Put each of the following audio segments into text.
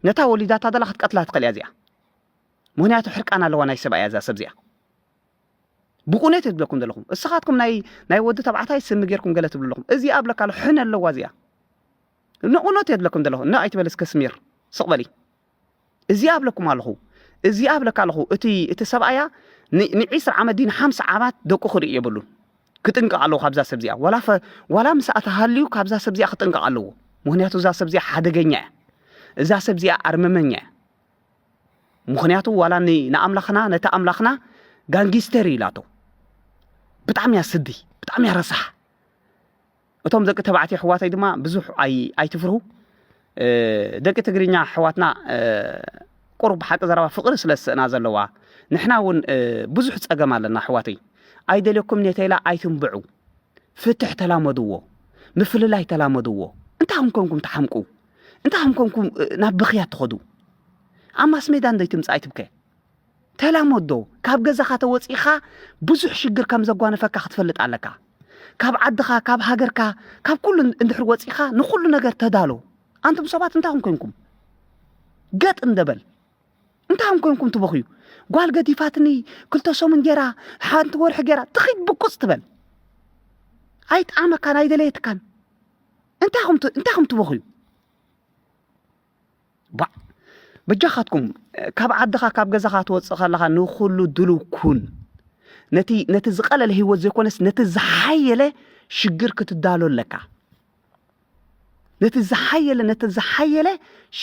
ነታ ወሊዳታ ዘላ ክትቀትላ ትኽእል እያ እዚኣ ምክንያቱ ሕርቃን ኣለዋ ናይ ሰብኣያ እዛ ሰብ እዚኣ ብቁነት እየ ዝብለኩም ዘለኹም እስኻትኩም ናይ ናይ ወዲ ተባዕታይ ስሚ ጌርኩም ገለ ትብሉ ኣለኹም እዚኣ ብለካ ኣሎ ሕነ ኣለዋ እዚኣ ንእውነት እየ ዝብለኩም ዘለኹ እና ኣይትበል እስከ ስሚር ስቕ በሊ እዚኣ ብለኩም ኣለኹ እዚኣ ብለካ ኣለኹ እቲ እቲ ሰብኣያ ንዒስራ ዓመት ዲን ሓምሳ ዓመት ደቁ ክርኢ የብሉን ክጥንቀቕ ኣለዎ ካብዛ ሰብ እዚኣ ዋላ ዋላ ምስኣ ተሃልዩ ካብዛ ሰብ እዚኣ ክጥንቀቕ ኣለዎ ምክንያቱ እዛ ሰብ እዚኣ ሓደገኛ እያ እዛ ሰብ እዚኣ ኣርመመኛ እያ ምክንያቱ ዋላ ንኣምላኽና ነቲ ኣምላኽና ጋንጊስተር ኢላቶ ብጣዕሚ እያ ስዲ ብጣዕሚ እያ ረሳሕ እቶም ደቂ ተባዕትዮ ኣሕዋተይ ድማ ብዙሕ ኣይትፍርሁ ደቂ ትግርኛ ኣሕዋትና ቁሩብ ሓቂ ዘረባ ፍቕሪ ስለ ዝስእና ዘለዋ ንሕና እውን ብዙሕ ፀገም ኣለና ኣሕዋተይ ኣይደልየኩም ኔተይላ ኣይትንብዑ ፍትሕ ተላመድዎ ምፍልላይ ተላመድዎ እንታይ ከም ኮንኩም ትሓምቁ እንታይ ከም ኮንኩም ናብ ብኽያት ትኸዱ ኣብ ማስሜዳ እንዶይ ትምፃእ ኣይትብከ ተላመዶ ካብ ገዛኻ ተወጺእኻ ብዙሕ ሽግር ከም ዘጓነፈካ ክትፈልጥ ኣለካ ካብ ዓድኻ ካብ ሃገርካ ካብ ኩሉ እንድሕር ወጺኻ ንኩሉ ነገር ተዳሎ ኣንቱም ሰባት እንታይ ኹም ኮንኩም ገጥ እንደበል እንታይ ኹም ኮንኩም ትበኽዩ ጓል ገዲፋትኒ ክልተ ሰሙን ጌራ ሓንቲ ወርሒ ጌራ ትኺድ ብቁፅ ትበል ኣይጠዓመካን ኣይደለየትካን እንታይ ኹም ትበኽዩ ባእ በጃኻትኩም ካብ ዓድኻ ካብ ገዛኻ ትወፅእ ከለኻ ንኹሉ ድልው ኩን ነቲ ነቲ ዝቐለለ ህይወት ዘይኮነስ ነቲ ዝሓየለ ሽግር ክትዳሎ ኣለካ ነቲ ዝሓየለ ነቲ ዝሓየለ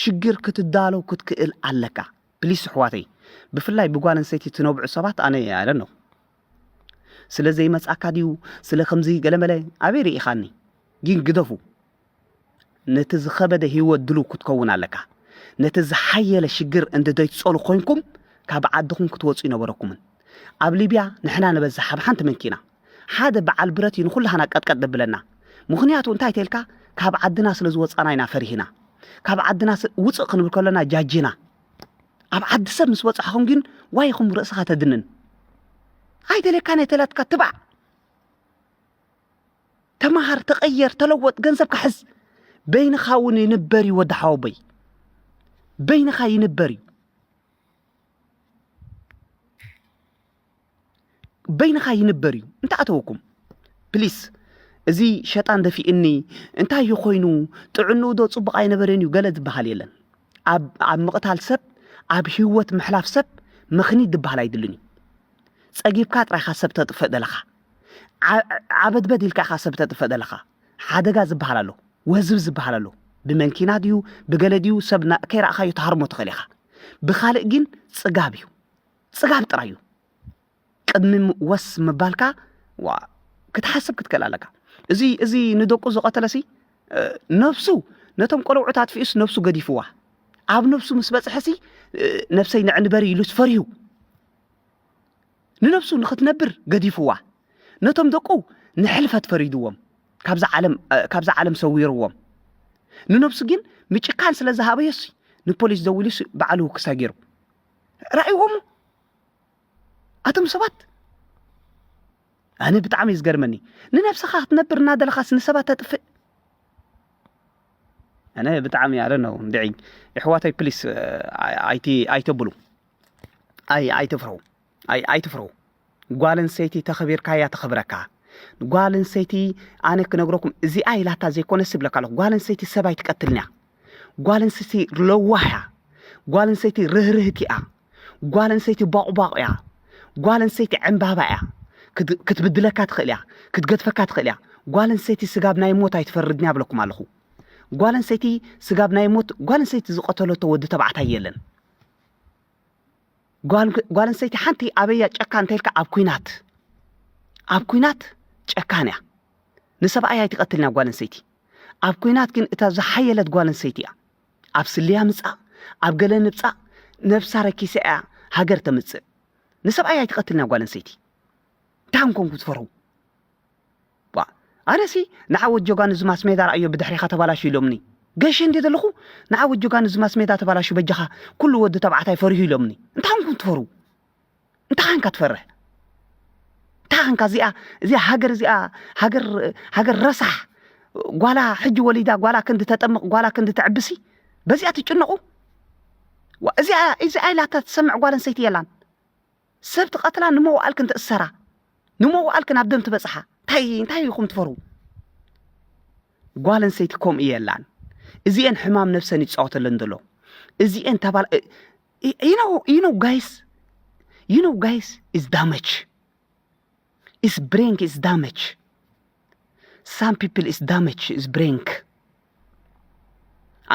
ሽግር ክትዳሎ ክትክእል ኣለካ ፕሊስ ኣሕዋተይ ብፍላይ ብጓል ኣንስተይቲ ትነብዑ ሰባት ኣነ ኣለ ነው ስለ ዘይመጻካ ድዩ ስለ ከምዚ ገለመለ ኣበይ ርኢኻኒ ግን ግደፉ ነቲ ዝኸበደ ህይወት ድሉው ክትከውን ኣለካ። ነቲ ዝሓየለ ሽግር እንድደይትጸሉ ኮንኩም ካብ ዓድኹም ክትወጹ ይነበረኩምን። ኣብ ሊብያ ንሕና ንበዝሕ ኣብ ሓንቲ መንኪና ሓደ በዓል ብረት እዩ ንኹላህና ቀጥቀጥ ደብለና። ምኽንያቱ እንታይ ተልካ ካብ ዓድና ስለ ዝወጻና ኢና ፈሪህና። ካብ ዓድና ውጽእ ክንብል ከሎና ጃጂና። ኣብ ዓዲ ሰብ ምስ በጻሕኹም ግን ዋይኹም ርእስኻ ተድንን። ኣይተለካ ነተላትካ ትባዕ ተማሃር ተቐየር ተለወጥ ገንዘብካ ሕዝ በይንኻ እውን ይንበር እዩ ወዲ ሓወቦይ በይንኻ ይንበር እዩ በይንኻ ይንበር እዩ እንታይ ኣተወኩም ፕሊስ እዚ ሸጣን ደፊእኒ እንታይ እዩ ኮይኑ ጥዕንኡ ዶ ፅቡቕ ኣይነበረን እዩ ገለ ዝበሃል የለን ኣብ ኣብ ምቕታል ሰብ ኣብ ህይወት ምሕላፍ ሰብ ምኽኒት ዝበሃል ኣይድልን እዩ ፀጊብካ ጥራይካ ሰብ ተጥፍእ ደለኻ ዓበድበድ ኢልካ ኢኻ ሰብ ተጥፍእ ዘለኻ ሓደጋ ዝበሃል ኣሎ ወዝብ ዝበሃል ኣሎ ብመንኪና ድዩ ብገለ ድዩ ሰብ ከይረእኻዮ ትሃርሞ ትኽእል ኢኻ ብኻልእ ግን ፅጋብ እዩ ፅጋብ ጥራይ እዩ ቅድሚ ወስ ምባልካ ዋ ክትሓስብ ክትክእል ኣለካ እዚ እዚ ንደቁ ዝቐተለሲ ነፍሱ ነቶም ቆልዑት ኣጥፊኡስ ነፍሱ ገዲፍዋ ኣብ ነፍሱ ምስ በፅሐሲ ነፍሰይ ንዕንበሪ ኢሉስ ፈሪሁ ንነብሱ ንኽትነብር ገዲፍዋ፣ ነቶም ደቁ ንሕልፈት ፈሪድዎም ካብዛ ዓለም ካብዛ ዓለም ሰዊርዎም፣ ንነብሱ ግን ምጭካን ስለ ዝሃበዮሲ ንፖሊስ ደዊሉሲ ባዕሉ ክሳ ጌሩ። ራእይዎሞ ኣቶም ሰባት ኣነ ብጣዕሚ እዩ ዝገርመኒ ንነብስኻ ክትነብር እናደለኻስ ንሰባት ተጥፍእ ኣነ ብጣዕሚ ኣለ ነው እንድዒ የሕዋተይ ፕሊስ ኣይትብሉ ኣይ ኣይትፍረው ኣይ ኣይትፍረው ጓል ኣንስተይቲ ተኸቢርካ እያ ተኸብረካ ጓል ኣንስተይቲ ኣነ ክነግረኩም እዚኣ ኢላታ ዘይኮነ ስብለካ ኣለኹ ጓል ኣንስተይቲ ሰብ ኣይትቀትልን እያ ጓል ኣንስተይቲ ለዋህ እያ ጓል ኣንስተይቲ ርህርህቲ እያ ጓል ኣንስተይቲ ባቑባቑ እያ ጓል ኣንስተይቲ ዕምባባ እያ ክትብድለካ ትኽእል እያ ክትገድፈካ ትኽእል እያ ጓል ኣንስተይቲ ስጋብ ናይ ሞት ኣይትፈርድን እያ ብለኩም ኣለኹ ጓል ኣንስተይቲ ስጋብ ናይ ሞት ጓል ኣንስተይቲ ዝቐተለቶ ወዲ ተባዕታይ የለን ጓል ኣንስተይቲ ሓንቲ ኣበያ ጨካን እንተልካ ኣብ ኩናት ኣብ ኩናት ጨካን እያ ንሰብኣይ ኣይትቐትልን እያ ጓል ኣንስተይቲ ኣብ ኩናት ግን እታ ዝሓየለት ጓል ኣንስተይቲ እያ ኣብ ስልያ ምፃእ ኣብ ገለ ንብፃእ ነብሳ ረኪሰ እያ ሃገር ተምፅእ ንሰብኣይ ኣይትቐትልን እያ ጓል ኣንስተይቲ እንታይ ኮንኩም ትፈርሁ ቧእ ኣነሲ ንዓወት ጆጋኑ እዚ ማስሜዳ ረኣዮ ብድሕሬኻ ተባላሹ ኢሎምኒ ገሼ እንድየ ዘለኹ ንዓወት ጆጋኑ እዚ ማስሜዳ ተባላሹ በጃኻ ኩሉ ወዲ ተባዕታይ ፈሪሁ ኢሎምኒ እንታይ ኮንኩም ትፈርሁ እንታይ ኮንካ ትፈርሕ እንታይ ኮንካ እዚኣ እዚኣ ሃገር እዚኣ ሃገር ሃገር ረሳሕ ጓላ ሕጂ ወሊዳ ጓላ ክንዲ ተጠምቕ ጓላ ክንዲ ተዕብሲ በዚኣ ትጭነቑ እዚኣ ኢላታ ትሰምዕ ጓል ኣንስተይቲ የላን ሰብ ትቀትላ ንመዋእልክን ትእሰራ ንመዋእልክን ኣብ ደም ትበጽሓ እንታይ እንታይ ኢኹም ትፈርዉ ጓል ኣንሰይቲ ከምኡ የላን እዚኤን ሕማም ነብሰን ይጻወተለን ዘሎ እዚኤን ተባል ዩ ኖ ዩ ኖ ጋይስ ዩ ኖ ጋይስ ኢዝ ዳመች ኢስ ብሬንግ ኢስ ዳመች ሳም ፒፕል ኢስ ዳመች ኢስ ብሬንግ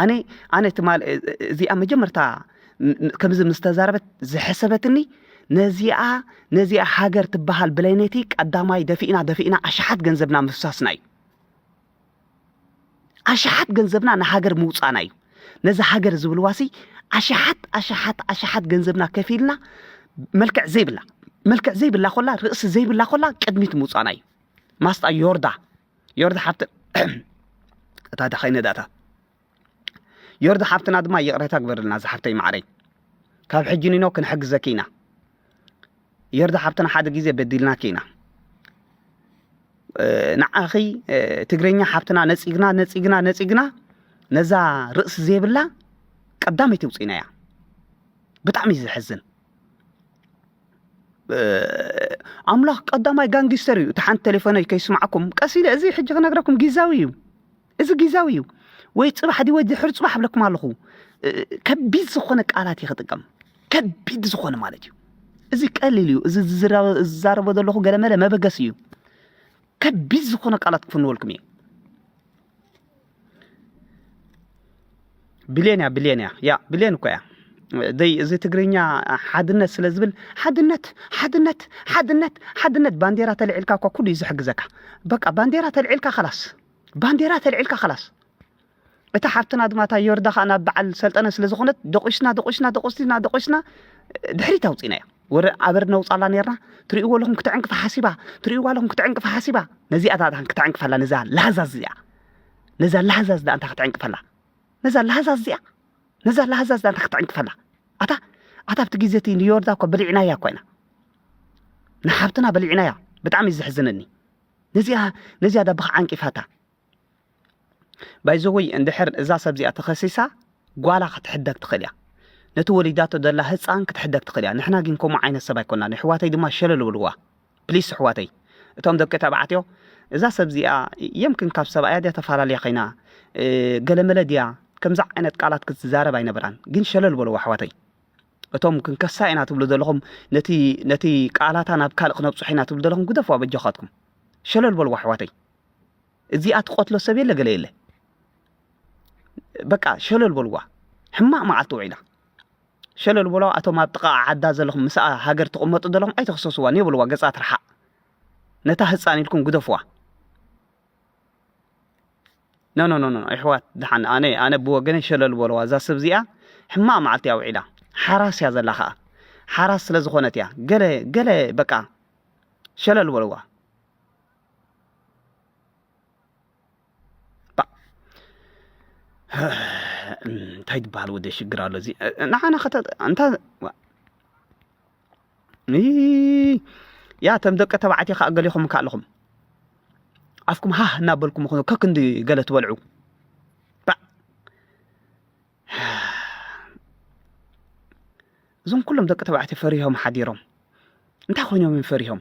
ኣነ ኣነ ትማል እዚኣ መጀመርታ ከምዚ ምስ ተዛረበት ዝሐሰበትኒ ነዚኣ ነዚኣ ሃገር ትበሃል ብለነቲ ቀዳማይ ደፊእና ደፊእና ኣሽሓት ገንዘብና ምፍሳስና እዩ ኣሽሓት ገንዘብና ንሃገር ምውፃእና እዩ ነዚ ሃገር ዝብልዋሲ ኣሽሓት ኣሽሓት ኣሽሓት ገንዘብና ከፊልና መልክዕ ዘይብላ መልክዕ ዘይብላ ኮላ ርእሲ ዘይብላ ኮላ ቅድሚት ምውፃእና እዩ ማስጣ ዮርዳ ዮርዳ ሓብቲ እታ ዳኸይነ ዳታ ዮርዲ ሓፍትና ድማ ይቕረታ ግበርልና ዝሓፍተይ ማዕረይ ካብ ሕጂ ኒኖ ክንሕግዘኪ ኢና ዮርዲ ሓፍትና ሓደ ግዜ በዲልናኪ ኢና ንዓኺ ትግርኛ ሓፍትና ነፂግና ነፂግና ነፂግና ነዛ ርእሲ ዘይብላ ቀዳመይቲ ውፅኢና እያ ብጣዕሚ እዩ ዘሕዝን ኣምላኽ ቀዳማይ ጋንጊስተር እዩ እቲ ሓንቲ ቴሌፎነይ ከይስማዕኩም ቀስ ኢለ እዚ ሕጂ ክነግረኩም ጊዛዊ እዩ እዚ ጊዛዊ እዩ ወይ ጽባሕ ድወ ድሕር ጽባሕ ብለኩም ኣለኹ ከቢድ ዝኾነ ቃላት እዩ ክጥቀም ከቢድ ዝኾነ ማለት እዩ እዚ ቀሊል እዩ እዚ ዝዛረቦ ዘለኹ ገለመለ መበገሲ እዩ ከቢድ ዝኾነ ቃላት ክፍንወልኩም እየ ብሌን እያ ብሌን እያ ያ ብሌን እኮ እያ ዘይ እዚ ትግርኛ ሓድነት ስለ ዝብል ሓድነት ሓድነት ሓድነት ሓድነት ባንዴራ ተልዒልካ እኳ ኩሉ እዩ ዝሕግዘካ በቃ ባንዴራ ተልዒልካ ከላስ ባንዴራ ተልዒልካ ከላስ እታ ሓፍትና ድማ እታ ዮርዳ ከዓ ናብ በዓል ሰልጠነ ስለ ዝኾነት ደቂስና ደቂስና ደቂስና ደቂስና ድሕሪት ኣውፂናያ ወረ ኣበር ነውፃላ ነርና ትሪእዎ ኣለኹም ክትዕንቅፋ ሓሲባ ትሪእዎ ኣለኹም ክትዕንቅፋ ሓሲባ ነዚኣ ዳታን ክትዕንቅፋላ ነዛ ላሃዛዝ እዚኣ ነዛ ላሃዛዝ ዳእንታ ክትዕንቅፈላ ነዛ ላሃዛዝ እዚኣ ነዛ ላሃዛዝ ዳእንታ ክትዕንቅፈላ ኣታ ኣታ ኣብቲ ግዜ እቲ ንዮርዳ እኳ በሊዕናያ እኳ ኢና ንሓብትና በሊዕናያ ብጣዕሚ እዩ ዘሕዝነኒ ነዚኣ ነዚኣ ዳብኻ ዓንቂፋታ ባይዘወይ እንድሕር እዛ ሰብ እዚኣ ተኸሲሳ ጓላ ክትሕደግ ትኽእል እያ ነቲ ወሊዳቶ ዘላ ህፃን ክትሕደግ ትኽእል እያ ንሕና ግን ከምኡ ዓይነት ሰብ ኣይኮናን ኣሕዋተይ ድማ ሸለል ብልዋ ፕሊስ ኣሕዋተይ እቶም ደቂ ተባዕትዮ እዛ ሰብ እዚኣ የምክን ካብ ሰብኣያ ድያ ተፈላለያ ኸይና ገለመለ ድያ ከምዚ ዓይነት ቃላት ክትዛረብ ኣይነበራን ግን ሸለል በልዋ ኣሕዋተይ እቶም ክንከሳ ኢና ትብሉ ዘለኹም ነቲ ነቲ ቃላታ ናብ ካልእ ክነብጽሖ ኢና ትብሉ ዘለኹም ግደፍዋ በጃኻትኩም ሸለል በልዋ ኣሕዋተይ እዚኣ ትቐትሎ ሰብ የለ ገለ የለ በቃ ሸለል በልዋ ሕማቕ መዓልቲ ውዒላ ሸለል በልዋ ኣቶም ኣብ ጥቓ ዓዳ ዘለኹም ምስኣ ሃገር ትቕመጡ ዘለኹም ኣይተኽሰስዋን የብልዋ ገጻ ትርሓቕ ነታ ህፃን ኢልኩም ግደፍዋ ኖ ኖ ኖ ኣሕዋት ድሓን ኣነ ኣነ ብወገነይ ሸለል በልዋ እዛ ሰብ እዚኣ ሕማቕ መዓልቲ እያ ውዒላ ሓራስ እያ ዘላ ከዓ ሓራስ ስለ ዝኾነት እያ ገለ ገለ በቃ ሸለል በልዋ እንታይ ትበሃል ወደ ሽግር ኣሎ እዚ ንዓና እንታ ያ ተም ደቂ ተባዕትዮ ከዓ ገሊኹም እካ ኣለኹም ኣፍኩም ሃህ እናበልኩም ኹኑ ከክንዲ ገለ ትበልዑ እዞም ኩሎም ደቂ ተባዕትዮ ፈሪሆም ሓዲሮም እንታይ ኮይኖም እዮም ፈሪሆም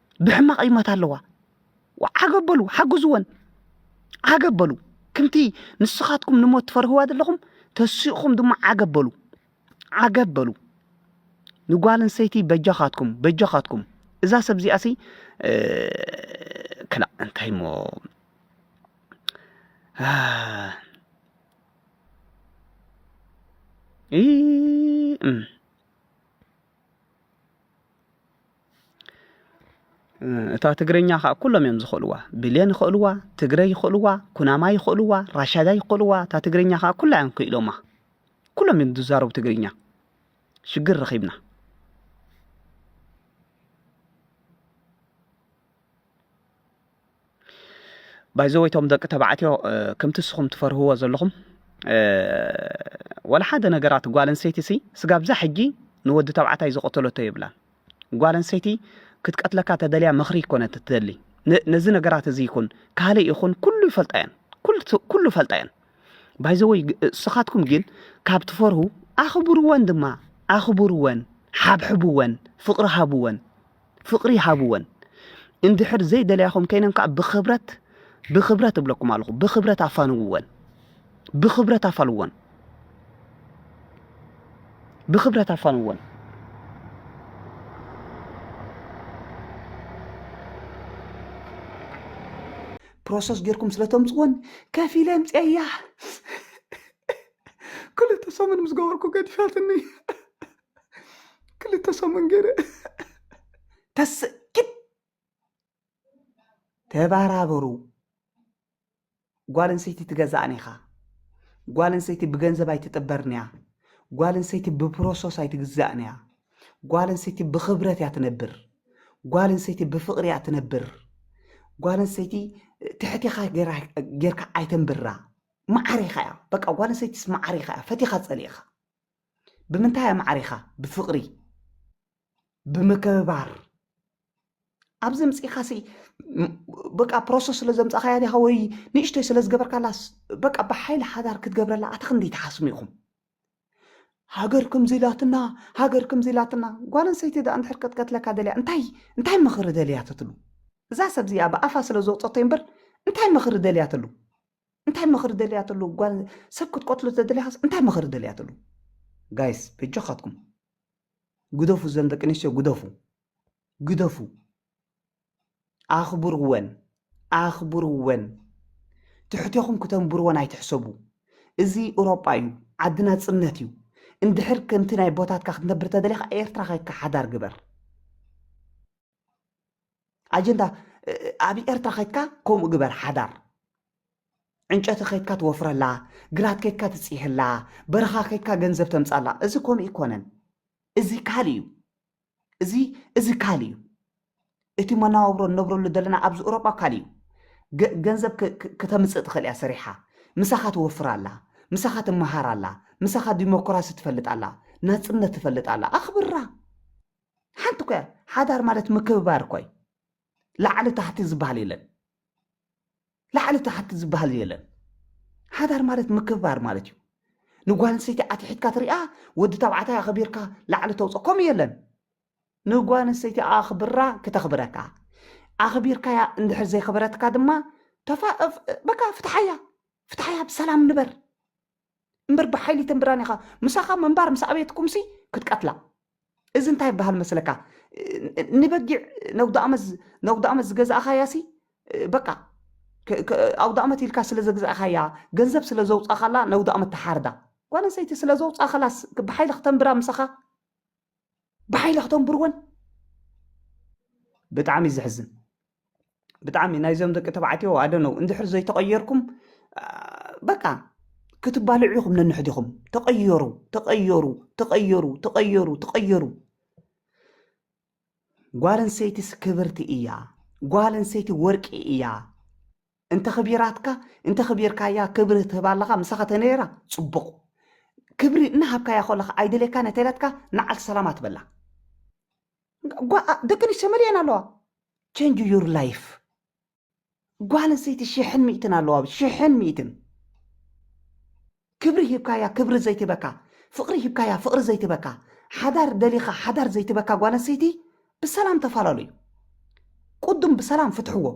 ብሕማቕ ይመት ኣለዋ ዓገብ በሉ ሓግዝወን ዓገብ በሉ ከምቲ ንስኻትኩም ንሞት ትፈርህዋ ዘለኹም ተሲእኹም ድማ ዓገብ በሉ ዓገብ በሉ ንጓል ኣንሰይቲ በጃኻትኩም በጃኻትኩም እዛ ሰብ እዚኣ ሲ ክላእ እንታይ እሞ ይ እታ ትግርኛ ከዓ ኩሎም እዮም ዝኽእልዋ ብሌን ይኽእልዋ ትግረ ይኽእልዋ ኩናማ ይኽእልዋ ራሻዳ ይኽእልዋ እታ ትግርኛ ከዓ ኩላ እዮም ክኢሎማ ኩሎም እዮም ዝዛረቡ ትግርኛ ሽግር ረኺብና ባይዘወይ ቶም ደቂ ተባዕትዮ ከምቲ ንስኹም ትፈርህዎ ዘለኹም ወላ ሓደ ነገራት ጓል ኣንሰይቲ ሲ ስጋብ ዛ ሕጂ ንወዲ ተባዕታይ ዝቐተለቶ የብላን ጓል ኣንሰይቲ ክትቀትለካ ተደልያ ምኽሪ ይኮነት ትደሊ ነዚ ነገራት እዚ ይኹን ካልእ ይኹን ኩሉ ይፈልጣ እየን ኩሉ ፈልጣ እየን ባይዘወይ እስኻትኩም ግን ካብ ትፈርሁ ኣኽብርወን ድማ ኣኽብርወን ሓብሕብወን ፍቕሪ ሃብወን ፍቅሪ ሃብወን እንድሕር ዘይደልያኹም ከይነን ከዓ ብኽብረት ብኽብረት እብለኩም ኣለኹ ብኽብረት ኣፋንውወን ብኽብረት ኣፋልወን ብኽብረት ኣፋንወን ፕሮሰስ ጌርኩም ስለ ተምፅወን ከፍ ኢለ ኣምፅአያ ክልተ ሰሙን ምስ ገበርኩ ገዲፋትኒ ክልተ ሰሙን ገይረ ተስእ ኪድ ተባራበሩ ጓል ኣንሰይቲ ትገዛእን ኢኻ ጓል ኣንሰይቲ ብገንዘብ ኣይትጥበርን እያ ጓል ኣንሰይቲ ብፕሮሰስ ኣይትግዛእን እያ ጓል ኣንሰይቲ ብክብረት እያ ትነብር ጓል ኣንሰይቲ ብፍቅሪ እያ ትነብር ጓል ኣንሰይቲ ትሕቲኻ ጌራ- ጌርካ ኣይተንብራ መዓሪኻ እያ በቃ ጓል ኣንሰይቲስ መዓሪኻ እያ ፈቲኻ ፀሊእኻ ብምንታይ ኣማዕሪኻ ብፍቕሪ ብምክብባር ኣብዚ ምፅኢኻ ሲ በቃ ፕሮሰስ ስለ ዘምፃኻያ ዲኻ ወይ ንእሽቶይ ስለ ዝገበርካላ በቃ ብሓይሊ ሓዳር ክትገብረላ ኣታ ክንደይ ትሓስሙ ኢኹም ሃገር ከምዚ ኢላትና ሃገር ከምዚ ኢላትና ጓል ኣንሰይቲ ደኣ እንድሕር ክትቀትለካ ደልያ እንታይ እንታይ ምኽሪ ደልያትትሉ እዛ ሰብ እዚኣ ብኣፋ ስለ ዝወፀቶ እምበር እንታይ ምኽሪ ደልያትሉ እንታይ ምኽሪ ደልያ ተሉ ጓል ሰብ ክትቀትሉ ተደልያስ እንታይ ምኽሪ ደልያ ተሉ ጋይስ በጆኻትኩም ግደፉ ዘን ደቂ ኣንስትዮ ግደፉ ግደፉ ኣኽብርወን ኣኽብርወን ትሕቴኹም ክተንብርወን ኣይትሕሰቡ እዚ ኤውሮጳ እዩ ዓዲ ናጽነት እዩ እንድሕር ከምቲ ናይ ቦታትካ ክትነብር ተደሊኻ ኤርትራ ከይካ ሓዳር ግበር ኣጀንዳ ኣብ ኤርትራ ከድካ ከምኡ ግበር ሓዳር ዕንጨቲ ከድካ ትወፍረላ ግራት ከድካ ትፅህላ በረኻ ከድካ ገንዘብ ተምፃላ እዚ ከምኡ ይኮነን እዚ ካልእ እዩ እዚ እዚ ካልእ እዩ እቲ መናባብሮ እነብረሉ ዘለና ኣብዚ ኤውሮጳ ካልእ እዩ ገንዘብ ክተምፅእ ትኽእል እያ ሰሪሓ ምሳኻ ትወፍር ኣላ ምሳኻ ትመሃር ኣላ ምሳኻ ዲሞክራሲ ትፈልጥ ኣላ ናፅነት ትፈልጥ ኣላ ኣኽብራ ሓንቲ እኮ እያ ሓዳር ማለት ምክብባር እኮ እዩ ላዕሊ ታሕቲ ዝበሃል የለን ላዕሊ ታሕቲ ዝበሃል የለን ሓዳር ማለት ምክብባር ማለት እዩ ንጓል ኣንስተይቲ ኣትሒትካ ትሪኣ ወዲ ተባዕታይ ኣኸቢርካ ላዕሊ ተውፅ ከምኡ የለን ንጓል ኣንስተይቲ ኣኽብራ ክተኽብረካ ኣኽቢርካያ እንድሕር ዘይኽብረትካ ድማ ተፋ በቃ ፍትሓያ ፍትሓያ ብሰላም ንበር እምበር ብሓይሊ ተምብራኒኻ ምሳኻ ምንባር ምስ ኣበየትኩምሲ ክትቀትላ እዚ እንታይ ይበሃል መስለካ ንበጊዕ ነውዳኣመት ዝገዛእኻያሲ በቃ ኣውዳኣመት ኢልካ ስለ ዘግዛእኻያ ገንዘብ ስለ ዘውፃኻላ ነውዳኣመት ተሓርዳ ጓል ኣንሰይቲ ስለ ዘውፃኸላስ ብሓይሊ ክተንብራ ምሳኻ ብሓይሊ ክተንብርወን ብጣዕሚ ዘሕዝን ብጣዕሚ ናይዞም ደቂ ተባዕትዮ ኣደነው እንድሕር ዘይተቐየርኩም በቃ ክትባልዑ ኢኹም ነንሕዲኹም ተቐየሩ ተቐየሩ ተቐየሩ ተቐየሩ ተቐየሩ ጓል ኣንሰይቲስ ክብርቲ እያ ጓል ኣንሰይቲ ወርቂ እያ እንተኽቢራትካ እንተኽቢርካያ ክብሪ ትህባ ኣለኻ ምሳኻ ተነይራ ጽቡቕ ክብሪ እናሃብካያ ከለኻ ኣይደልየካ ነተለትካ ንዓልቲ ሰላማ ትበላ ደቂ ኣንስትዮ መሊኤን ኣለዋ ቸንጅ ዩር ላይፍ ጓል ኣንስተይቲ ሽሕን ሚእትን ኣለዋ ሽሕን ሚእትን ክብሪ ሂብካያ ክብሪ ዘይትህበካ ፍቅሪ ሂብካያ ፍቅሪ ዘይትህበካ ሓዳር ደሊካ ሓዳር ዘይትህበካ ጓል ኣንስተይቲ ብሰላም ተፋላለዩ ቁዱም ብሰላም ፍትሕዎ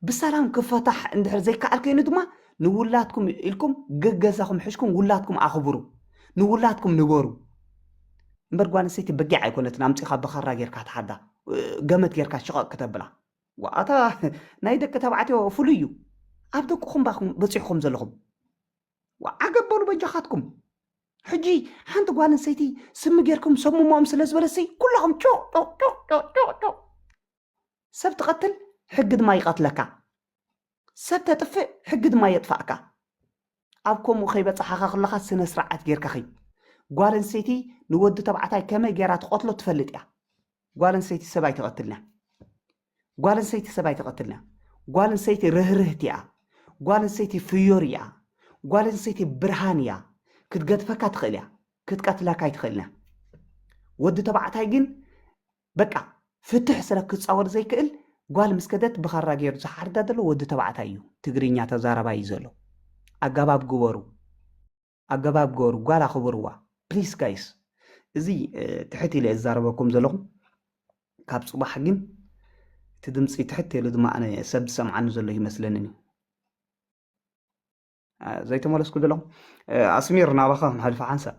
ብሰላም ክፈታሕ እንድሕር ዘይከኣል ከይኑ ድማ ንውላድኩም ኢልኩም ገገዛኹም ሕሽኩም ውላድኩም ኣኽብሩ ንውላድኩም ንበሩ እምበር ጓል ኣንስተይቲ በጊዕ ኣይኮነትን ኣምፂኻ ብኻራ ጌርካ ትሓዳ ገመት ጌርካ ሽቐቕ ክተብላ ዋኣታ ናይ ደቂ ተባዕትዮ ፍሉይ እዩ ኣብ ደቅኹም ባኹም በፂሑኹም ዘለኹም ዓገብ በሉ በጃኻትኩም ሕጂ ሓንቲ ጓል ኣንሰይቲ ስሚ ጌርኩም ሰብ ምሞኦም ስለ ዝበለሰይ ኩላኹም ጮጮጮጮጮጮ ሰብ ትቐትል ሕጊ ድማ ይቐትለካ ሰብ ተጥፍእ ሕጊ ድማ የጥፋእካ ኣብ ከምኡ ከይበፅሓኻ ከለኻ ስነ ስርዓት ጌርካ ኸይድ ጓል ኣንሰይቲ ንወዲ ተባዕታይ ከመይ ጌራ ትቐትሎ ትፈልጥ እያ ጓል ኣንሰይቲ ሰብ ኣይተቐትልና ጓል ኣንሰይቲ ሰብ ኣይተቐትልና ጓል ኣንሰይቲ ርህርህቲ እያ ጓል ኣንሰይቲ ፍዮሪ እያ ጓል ኣንሰይቲ ብርሃን እያ ክትገድፈካ ትኽእል እያ ክትቀትላካ ኣይትኽእልና ወዲ ተባዕታይ ግን በቃ ፍትሕ ስለ ክፃወር ዘይክእል ጓል ምስ ከደት ብኻራ ገይሩ ዝሓርዳ ዘሎ ወዲ ተባዕታይ እዩ ትግርኛ ተዛረባ እዩ ዘሎ ኣጋባብ ግበሩ ኣገባብ ግበሩ ጓል ኣኽብርዋ ፕሊስ ጋይስ እዚ ትሕት ኢለ ዝዛረበኩም ዘለኹ ካብ ጽባሕ ግን እቲ ድምፂ ትሕት ኢሉ ድማ ኣነ ሰብ ዝሰምዓኒ ዘሎ ይመስለኒ እዩ ዘይተመለስኩ ዘለኹ ኣስሚር ናባኻ ክንሓልፋ ሓንሳብ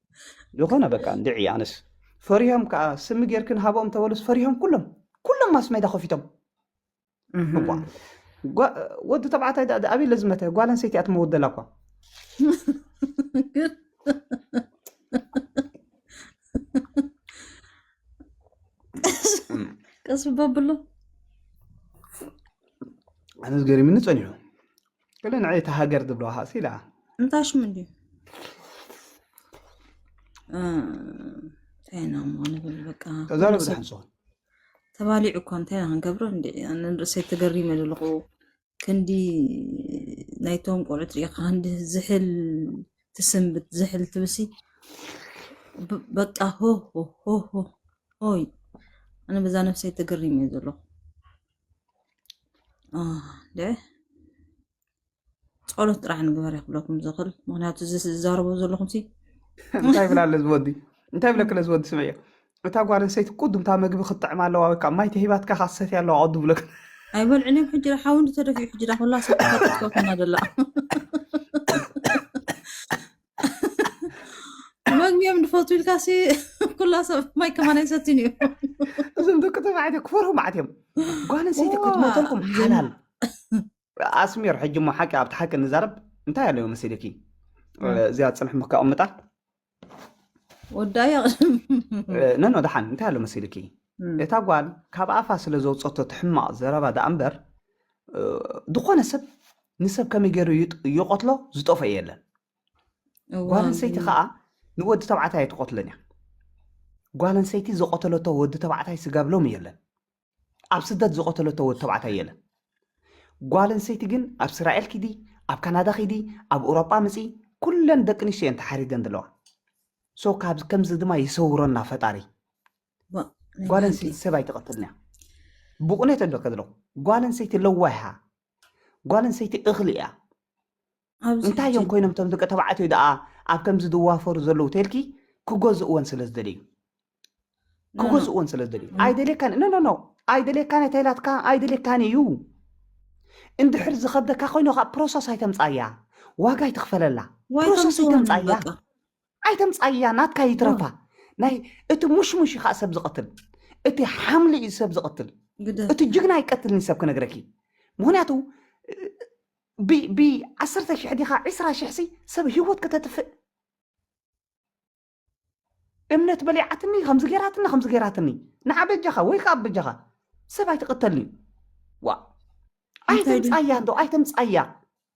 ዝኮነ በቃ እንድዒ ኣነስ ፈሪሆም ከዓ ስሚ ጌርኪ ንሃቦም ተበሉስ ፈሪሆም ኩሎም ኩሎም ማስሜዳ ከፊቶም እባ ጓ- ወዲ ተባዕታይ ዳ- ዳ- ኣበይ ለዝመተ ጓል ኣንስተይቲ እያ ትመውት ዘላ እኳ ቀስ በብሎ ኣነስ ገሪምኒ ፀኒሑ ገለ ንዐይ እታ ሃገር ዝብለዋ ሃሲ ኢላ እንታይ ሽሙ እንድዩ እንታይ ኢና እሞ ንብል በቃ ተዛረብ ኩሉ ሰብ ድሓን ስኹን ተባሊዑ እኮ እንታይ ኢና ክንገብሮ እንዲ ኣነ ንርእሰይ ተገሪመ ዘለኹ ክንዲ ናይቶም ቆልዑት ሪኢኻ ክንዲ ዝሕል ትስንብት ዝሕል ትብሲ ብ- በቃ ሆ ሆ ሆ ሆ ሆይ ኣነ በዛ ነፍሰይ ተገሪመ እየ ዘለኹ ጸሎት ጥራሕ ንግበር ክብለኩም ዝኽእል ምክንያቱ እዚ ዝዛረቦ ዘለኹም እንታይ ብላ ኣለ ዝወዲ እንታይ ብለክለ ዝወዲ ስምዕ እዮ እታ ጓል ኣንሰይቲ ቅዱምታ መግቢ ክትጥዕም ኣለዋ ወይ ከዓ ማይ ተሂባትካ ካሰት ኣለዋ ቅዱ ብለክ ኣይበልዕን እዮም ሕጂ ሓዊ ተደፊኡ ሕጂ ኩላ ሰ ተፈጥትከኩና ዘላ መንግዮም ንፈቱ ኢልካሲ ኩላ ሰብ ማይ ከማን ኣይሰትን እዩ እዞም ደቂ ተባዕትዮ ክፈርሁ ማዓት እዮም ጓል ኣንስተይቲ ክትመተልኩም ሓላል ኣስሚር ሕጂ ሞ ሓቂ ኣብቲ ሓቂ ንዛረብ እንታይ ኣለዮ መሲልኪ እዚኣ ፅንሕ ምከቕምጣ ወዳያ ነኖ ድሓን እንታይ ኣሎ መሲልኪ እታ ጓል ካብ ኣፋ ስለ ዘውፀቶ ትሕማቕ ዘረባ ደኣ እምበር ዝኾነ ሰብ ንሰብ ከመይ ገይሩ ይቐትሎ ዝጠፍኦ የለን ጓል ኣንሰይቲ ከዓ ንወዲ ተባዕታይ ኣይትቐትሎን እያ ጓል ኣንሰይቲ ዝቐተለቶ ወዲ ተባዕታይ ስጋብ ሎሚ የለን ኣብ ስደት ዝቐተለቶ ወዲ ተባዕታይ የለን ጓል ኣንሰይቲ ግን ኣብ እስራኤል ኪዲ ኣብ ካናዳ ኪዲ ኣብ ኤውሮጳ ምፂ ኩለን ደቂ ኣንስትዮ እየን ተሓሪደን ዘለዋ ሶ ካብዚ ከምዚ ድማ ይሰውረና ፈጣሪ ጓል ኣንስተይቲ ሰብ ኣይትቐትልን እያ ብቑኔት ኣለካ ዘለኹ ጓል ኣንስተይቲ ለዋሃ ጓል ኣንስተይቲ እኽሊ እያ እንታይ እዮም ኮይኖም እቶም ደቂ ተባዕትዮ ደኣ ኣብ ከምዚ ዝዋፈሩ ዘለዉ ተልኪ ክገዝእወን ስለ ዝደልዩ ክገዝእወን ስለ ዝደልዩ ኣይደልየካን ኖ ኖ ኣይደልየካን ተይላትካ ኣይደልየካን እዩ እንድሕር ዝኸብደካ ኮይኑ ካብ ፕሮሰስ ኣይተምፃያ ዋጋ ኣይትኽፈለላ ፕሮሰስ ኣይተምፃያ ኣይተምጻያ ናትካ ይትረፋ ናይ እቲ ሙሽሙሽ እዩ ከዓ ሰብ ዝቐትል እቲ ሓምሊ እዩ ሰብ ዝቐትል እቲ ጅግና ኣይቀትልን ሰብ ክነግረኪ ምክንያቱ ብዓሰርተ ሽሕ ዲኻ ዕስራ ሽሕ ሲ ሰብ ህይወት ከተጥፍእ እምነት በሊዓትኒ ከምዚ ገይራትኒ ከምዚ ገይራትኒ ንዓ በጃኻ ወይ ከዓ በጃኻ ሰብ ኣይትቕተልኒ ዋ ኣይተምፃያ እንዶ ኣይተምፃያ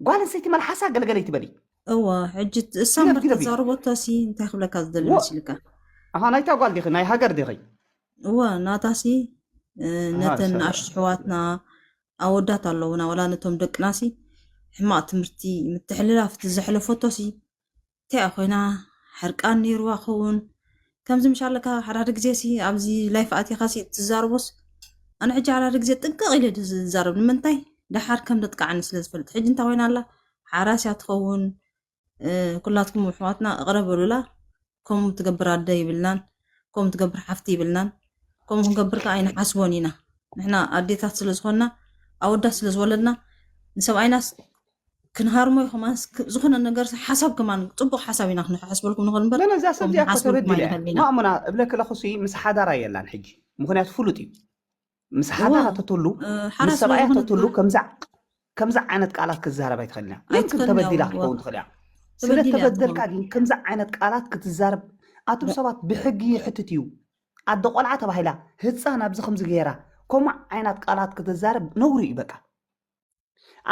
ጓል ኣንስተይቲ መልሓሳ ገለገለ ይትበሊ እወ ሕጂ እሳ ግደፍ፣ ግደፍ እዩ። ምርትዛርቦቶ ሲ እንታይ ክብለካ ዝደሊ ወ- መስልካ ኣሃ ናይታ ጓል ዲኺ ናይ ሃገር ዲኺ እወ ናታሲ እ፣ ነተን ሰላም። ንኣሽቱ ኣሕዋትና ኣወዳት ኣለውና ወላ ነቶም ደቅናሲ ሕማቅ ትምህርቲ ምትሕልላፍ እቲ ዘሕለፈቶሲ እንታይ እያ ኮይና ሕርቃን ነይርዋ ከውን ከምዚ ምሽ ኣለካ ሓዳደ ግዜ ሲ ኣብዚ ላይፍ ኣቲኻ ሲ እትዛረቦስ ኣነ ሕጂ ሓዳደ ግዜ ጥንቅቕ ኢለ ዶ ዝዛረብ ንምንታይ ደሓር ከም ደጥቃዓኒ ስለ ዝፈልጥ ሕጂ እንታይ ኮይና ኣላ ሓራስ እያ ትኸውን ኩላትኩም ኣሕዋትና እቕረ በሉላ ከምኡ ትገብር ኣደ ይብልናን ከምኡ ትገብር ሓፍቲ ይብልናን ከምኡ ክንገብር ከዓ ኣይንሓስቦን ኢና ንሕና ኣዴታት ስለ ዝኾንና ኣወዳት ስለ ዝወለድና ንሰብኣይናስ ክንሃርሞ ኢኹም ኣንስ ክ- ዝኾነ ነገር ሓሳብ ከማን ፅቡቅ ሓሳብ ኢና ክንሓስበልኩም ንኽእል እምበር ለለ እዛ ሰብ ከምኡ እዚኣ እኮ ክንሓስበልኩም ተበዲለ እያ ኣይንኽእል ኢና ማእሙና እብለኪ ኣለኹ ሲ ምስ ሓዳራ የላን ሕጂ ምክንያቱ ፍሉጥ እዩ ምስ እወ ሓዳራ ተትህሉ እ፣ ምስ ሓራ ስለ ሰብኣያ ዝኾነት ተትህሉ ከምዛ ከምዛ ዓይነት ቃላት ክትዛረብ ኣይትኽእልን እያ ግን ግን ኣይትኽእልን እያ ተበዲላ ወላ ክትከውን ትኽእል እያ ስለ ተበዲል እያ ተበደልካ ትኸውን ግን ከምዛ ዓይነት ቃላት ክትዛረብ ኣቱም ሰባት ብሕጊ ይሕትት እዩ ኣደ ቆልዓ ተባሂላ ህፃን ኣብዚ ከምዚ ገይራ ከምኡ ዓይነት ቃላት ክትዛረብ ነውሪ እዩ በቃ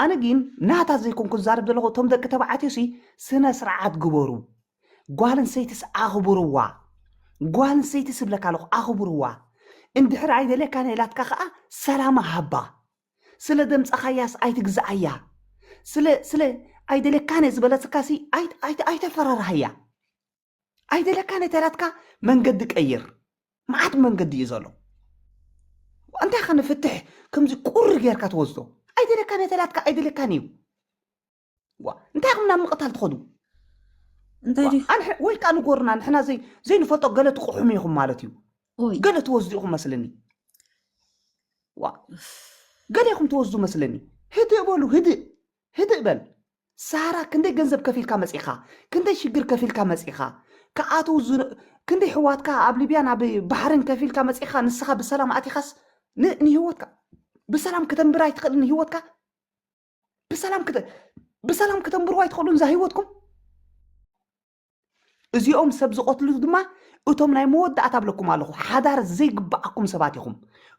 ኣነ ግን ናታ ዘይኮንኩ ዝዛረብ ዘለኹ እቶም ደቂ ተባዕትዮ ሲ ስነ ስርዓት ግበሩ ጓል እንሰይትስ ኣኽብርዋ ጓል እንሰይትስ እብለካ ኣለኹ ኣኽብርዋ እንድሕር ኣይደልየካን ኢላትካ ከዓ ሰላማ ሃባ ስለ ደምፀኻያስ ኣይትግዛኣያ ስለ ስለ ኣይደልየካን እየ ዝበለትካሲ ኣይተፈራርሃያ ኣይደለካ ነተራትካ መንገዲ ቀይር መዓት መንገዲ እዩ ዘሎ እንታይ ከ ንፍትሕ ከምዚ ቁሪ ጌርካ ትወስዶ ኣይደለካ ነተራትካ ኣይደለካን እዩ ዋ እንታይ ኹም ናብ ምቕታል ትኸዱ እንታይ ዲኹ ኣንሕ- ወይ ከዓ ንጎርና ንሕና ዘይ- ዘይንፈልጦ ገለ ትቕሑሙ ኢኹም ማለት እዩ ኦይ ገለ ትወስዱ ኢኹም መስለኒ ዋ ገለ ኢኹም ትወስዱ መስለኒ ህድእ በሉ ህድእ ህድእ በል ሳራ ክንደይ ገንዘብ ከፊልካ መጺኻ ክንደይ ሽግር ከፊልካ መጺኻ ክኣትው ዝ- ክንደይ ሕዋትካ ኣብ ሊብያን ኣብ ባሕርን ከፊልካ መጺኻ ንስኻ ብሰላም ኣቲኻስ ን- ንህይወትካ ብሰላም ከተንብር ኣይትኽእልን ህይወትካ ብሰላም ክተ ብሰላም ከተንብርዎ ኣይትኽእሉን እዛ ህይወትኩም እዚኦም ሰብ ዝቐትሉ ድማ እቶም ናይ መወዳእታ ብለኩም ኣለኹ ሓዳር ዘይግባኣኩም ሰባት ኢኹም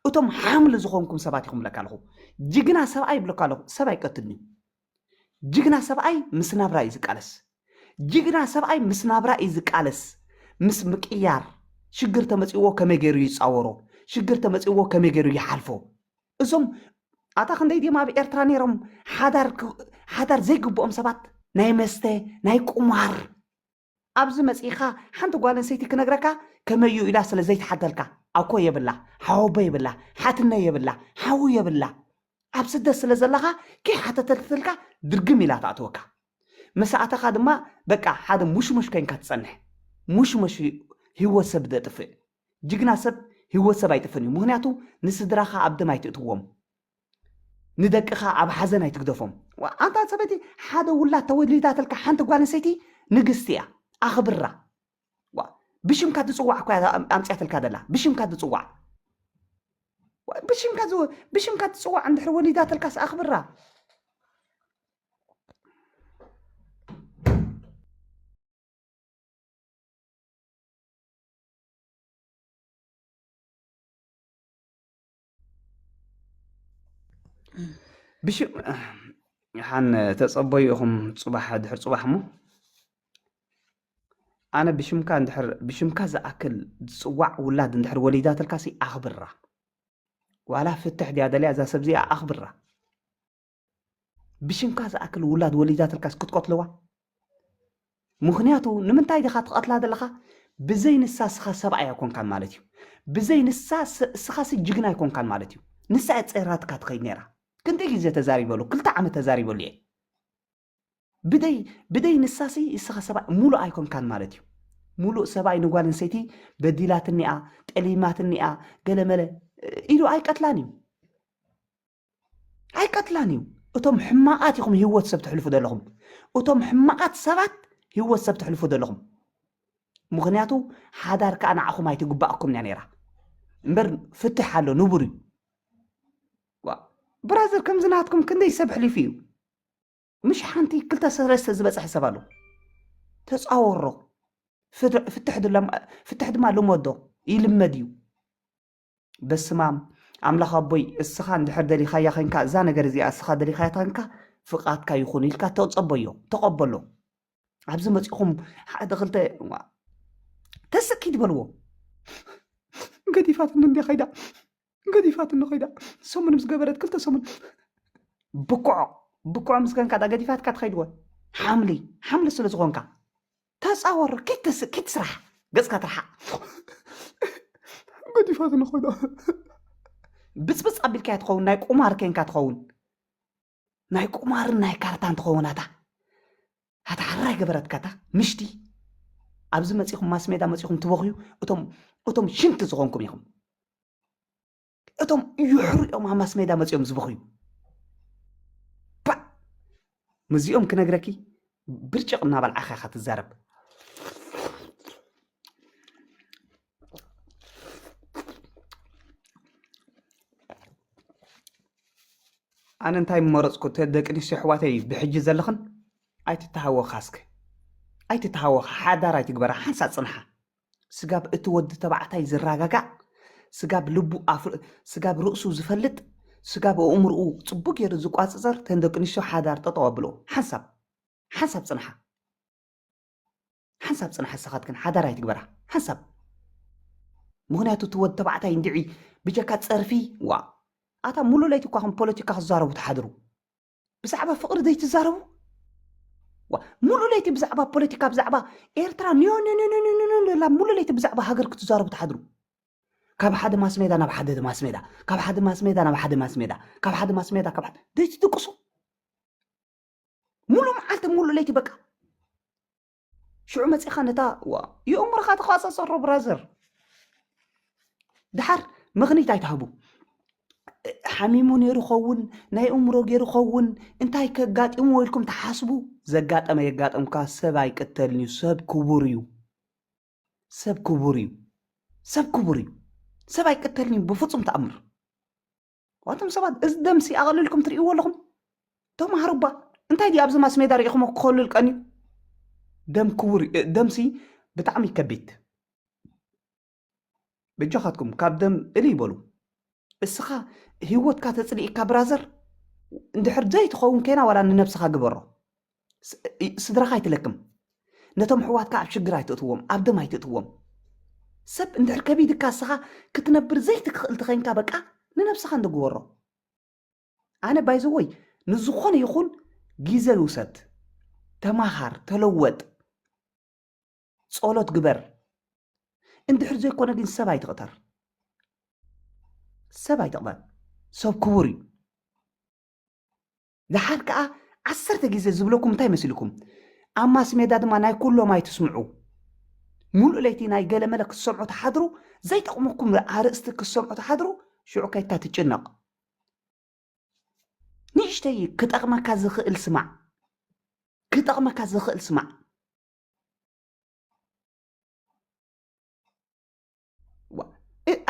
እቶም ሓምሊ ዝኾንኩም ሰባት ኢኹም ብለካ ኣለኹ ጅግና ሰብኣይ ብለካ ኣለኹ ሰብ ኣይቀትልን እዩ ጅግና ሰብኣይ ምስ ናብራ እዩ ዝቃለስ ጅግና ሰብኣይ ምስ ናብራ እዩ ዝቃለስ ምስ ምቅያር ሽግር ተመፅዎ ከመይ ገይሩ ይፃወሮ ሽግር ተመፅዎ ከመይ ገይሩ ይሓልፎ እዞም ኣታ ክንደይ ድዮም ኣብ ኤርትራ ነይሮም ሓዳር ዘይግብኦም ሰባት ናይ መስተ ናይ ቁማር ኣብዚ መፂእኻ ሓንቲ ጓል ኣንሰይቲ ክነግረካ ከመዩ ኢላ ስለ ዘይትሓተልካ ኣኮ የብላ ሓወቦ የብላ ሓትነ የብላ ሓዉ የብላ ኣብ ስደት ስለ ዘለኻ ከይሓተተትልካ ድርግም ኢላ ትኣትወካ መሳእተኻ ድማ በቃ ሓደ ሙሽሙሽ ኮይንካ ትጸንሕ ሙሽሙሽ ህይወት ሰብ ደጥፍእ ጅግና ሰብ ሂወት ሰብ ኣይጥፍእን እዩ ምክንያቱ ንስድራካ ኣብ ደም ኣይትእትዎም ንደቅካ ኣብ ሓዘን ኣይትግደፎም ኣንታ ሰበይቲ ሓደ ውላድ ተወሊዳትልካ ሓንቲ ጓል ኣንሰይቲ ንግስቲ እያ ኣክብራ ብሽምካ ትፅዋዕ እኮ ኣምፅያትልካ ደላ ብሽምካ ትፅዋዕ ብሽምካ ብሽምካ ትፅዋዕ እንድሕር ወሊዳትልካስ ኣኽብራ ብሽም ሓን ተጸበዩ ኢኹም ጽባሕ ድሕር ጽባሕ እሞ ኣነ ብሽምካ እንድሕር ብሽምካ ዝኣክል ዝጽዋዕ ውላድ እንድሕር ወሊዳትልካሲ ኣኽብራ ዋላ ፍትሕ ድያ ደልያ እዛ ሰብ እዚኣ ኣኽብራ ብሽምካ ዝኣክል ውላድ ወሊዳትልካስ ክትቀትልዋ ምክንያቱ ንምንታይ ዲኻ ትቐትላ ዘለኻ ብዘይ ንሳ እስኻ ሰብኣይ ኣይኮንካን ማለት እዩ ብዘይ ንሳ እስኻሲ ጅግና ኣይኮንካን ማለት እዩ ንሳ እየ ፀይራትካ ትኸይድ ነይራ ክንደይ ግዜ ተዛሪበሉ ክልተ ዓመት ተዛሪበሉ እየ ብደይ ብደይ ንሳሲ እስኻ ሰብኣይ ሙሉእ ኣይኮንካን ማለት እዩ ሙሉእ ሰብኣይ ንጓል ኣንሰይቲ በዲላትኒኣ ጠሊማትኒኣ ገለመለ ኢሉ ኣይቀትላን እዩ ኣይቀትላን እዩ እቶም ሕማቓት ኢኹም ህይወት ሰብ ትሕልፉ ዘለኹም እቶም ሕማቓት ሰባት ህይወት ሰብ ትሕልፉ ዘለኹም ምክንያቱ ሓዳር ከዓ ንዓኹም ኣይትግባኣኩም እያ ነይራ እምበር ፍትሕ ኣሎ ንቡር እዩ ብራዘር ከምዚ ናትኩም ክንደይ ሰብ ሕሊፉ እዩ ምሽ ሓንቲ ክልተ ሰለስተ ዝበፅሐ ሰብ ኣሎ ተፃወሮ ፍትሕ ድማ ልመዶ ይልመድ እዩ በስማም ኣምላኽ ኣቦይ እስኻ እንድሕር ደሊኻያ ዄንካ እዛ ነገር እዚኣ እስኻ ደሊኻያ ተንካ ፍቓድካ ይኹን ኢልካ ተጸበዮ ተቐበሎ ኣብዚ መጺኹም ሓደ ክልተ ተስኪ ትበልዎ ገዲፋትኒ እንዲ ኸይዳ ገዲፋትኒ ኸይዳ ሰሙን ምስ ገበረት ክልተ ሰሙን ብኩዖ ብኩዖ ምስ ገንካ ዳ ገዲፋትካ ትኸይድዎ ሓምሊ ሓምሊ ስለ ዝኾንካ ተጻወር ኪድ ተስ ኪድ ስራሕ ገጽካ ትርሓቅ ገዲፋትኒ ኮይና ብጽብጽ ኣቢልካያ ትኸውን ናይ ቁማር ኬንካ ትኸውን ናይ ቁማርን ናይ ካርታን ትኸውን ኣታ ኣታ ሓራይ ገበረትካ እታ ምሽቲ ኣብዚ መጺኹም ማስሜዳ መጺኹም ትበኽዩ እቶም እቶም ሽንቲ ዝኾንኩም ኢኹም እቶም ይሕሩ እዮም ኣብ ማስሜዳ መፅኦም ዝበኽዩ ምስዚኦም ክነግረኪ ብርጭቕ እናበልዓኻ ኢኻ ትዛረብ ኣነ እንታይ መረፅኩ ደቂ ኣንስትዮ ኣሕዋተይ ብሕጂ ዘለኽን ኣይትተሃወኻ እስከ ኣይትተሃወኻ ሓዳር ኣይትግበራ ሓንሳእ ፅንሓ ስጋብ እቲ ወዲ ተባዕታይ ዝራጋጋእ፣ ስጋብ ልቡ ኣፍ ስጋብ ርእሱ ዝፈልጥ፣ ስጋብ ኣእምርኡ ጽቡቅ ጌሩ ዝቋጽጸር ተን ደቂ ኣንስትዮ ሓዳር ጠጠው ኣብልኦ። ሓንሳብ ሓንሳብ ጽንሓ። ሓንሳብ ጽንሓ ንስኻትክን ሓዳር ኣይትግበራ። ሓንሳብ። ምኽንያቱ እቲ ወዲ ተባዕታይ እንድዒ ብጀካ ጸርፊ ዋእ ኣታ ሙሉእ ለይቲ እኳ ከም ፖለቲካ ክትዛረቡ ትሓድሩ። ብዛዕባ ፍቕሪ ዘይትዛረቡ ሙሉእ ለይቲ ብዛዕባ ፖለቲካ ብዛዕባ ኤርትራ ንዮንንንንንላ ሙሉእ ለይቲ ብዛዕባ ሃገር ክትዛረቡ ትሓድሩ ካብ ሓደ ማስሜዳ ናብ ሓደ ማስሜዳ ካብ ሓደ ማስሜዳ ናብ ሓደ ማስሜዳ ካብ ሓደ ማስሜዳ ካብ ሓደ ዘይትድቅሱ ሙሉእ መዓልቲ ሙሉእ ለይቲ በቃ ሽዑ መጺኻ ነታ ዋ የእምሮኻ ተቋጻጸሮ ብራዘር ድሓር ምኽኒት ኣይትሃቡ ሓሚሙ ነይሩ ኸውን ናይ እምሮ ገይሩ ኸውን እንታይ ከጋጢሙ ወይልኩም ተሓስቡ ዘጋጠመ የጋጠምካ ሰብ ኣይቅተልን እዩ ሰብ ክቡር እዩ ሰብ ክቡር እዩ ሰብ ክቡር እዩ ሰብ ኣይቅተልን እዩ ብፍፁም ተኣምር ዋቶም ሰባት እዚ ደምሲ ኣቐልልኩም ትርእይዎ ኣለኹም ተማሃሩ እባ እንታይ ድዩ ኣብዚ ማስሜዳ ሪኢኹሞ ክኸሉል ቀንዩ ደም ክቡር ደምሲ ብጣዕሚ ከቢድ በጃኻትኩም ካብ ደም እሊ ይበሉ እስኻ ህይወትካ ተፅሊእካ ብራዘር እንድሕር ዘይትኸውን ኬና ዋላ ንነብስኻ ግበሮ ስድራኻ ኣይትለክም ነቶም ኣሕዋትካ ኣብ ሽግር ኣይትእትዎም ኣብ ደም ኣይትእትዎም ሰብ እንድሕር ከቢድካ እስኻ ክትነብር ዘይትክእል ተኸንካ በቃ ንነብስኻ እንደግበሮ ኣነ ባይዘወይ ንዝኾነ ይኹን ግዘ ውሰድ ተማሃር ተለወጥ ጸሎት ግበር እንድሕር ዘይኮነ ግን ሰብ ኣይትቕተር ሰብ ኣይትቕበል ሰብ ክቡር እዩ ደሓር ከኣ ዓሰርተ ግዜ ዝብለኩም እንታይ መሲልኩም ኣብ ማስሜዳ ድማ ናይ ኩሎም ኣይትስምዑ ሙሉእ ለይቲ ናይ ገለመለ ክትሰምዑ ተሓድሩ ዘይጠቕመኩም ኣርእስቲ ክትሰምዑ ተሓድሩ ሽዑ ከይትካ ትጭነቕ ንእሽተይ ክጠቕመካ ዝኽእል ስማዕ ክጠቕመካ ዝኽእል ስማዕ